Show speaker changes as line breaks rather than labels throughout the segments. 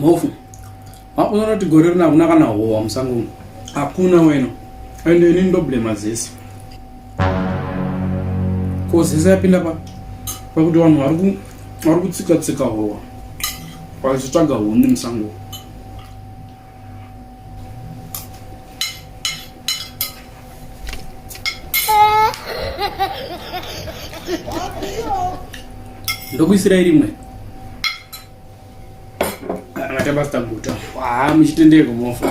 mhofu wakuona kuti gore rino hakuna kana howa musango uno hakuna wena and ini ndoblema zese ko zese yapinda pa pakuti vanhu vari kutsika tsika howa vachitsvaga huni musango ndokuisirai rimwe angata pasita guta haa muchitendeko mofa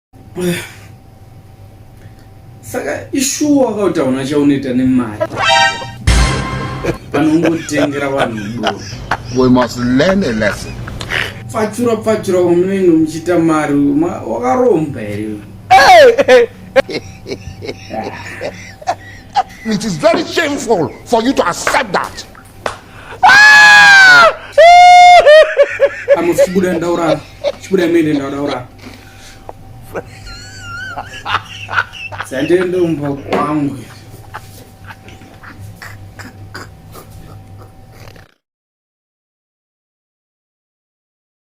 saka ishuwa wakautaona chaunoita nemari vanongotengera vanhu pfatsura pfatsura wamunenge muchiita mari wakaromba here It is very shameful for you to accept that. I'm a student, Daura. Student, Daura. Dzandendombo kwangu.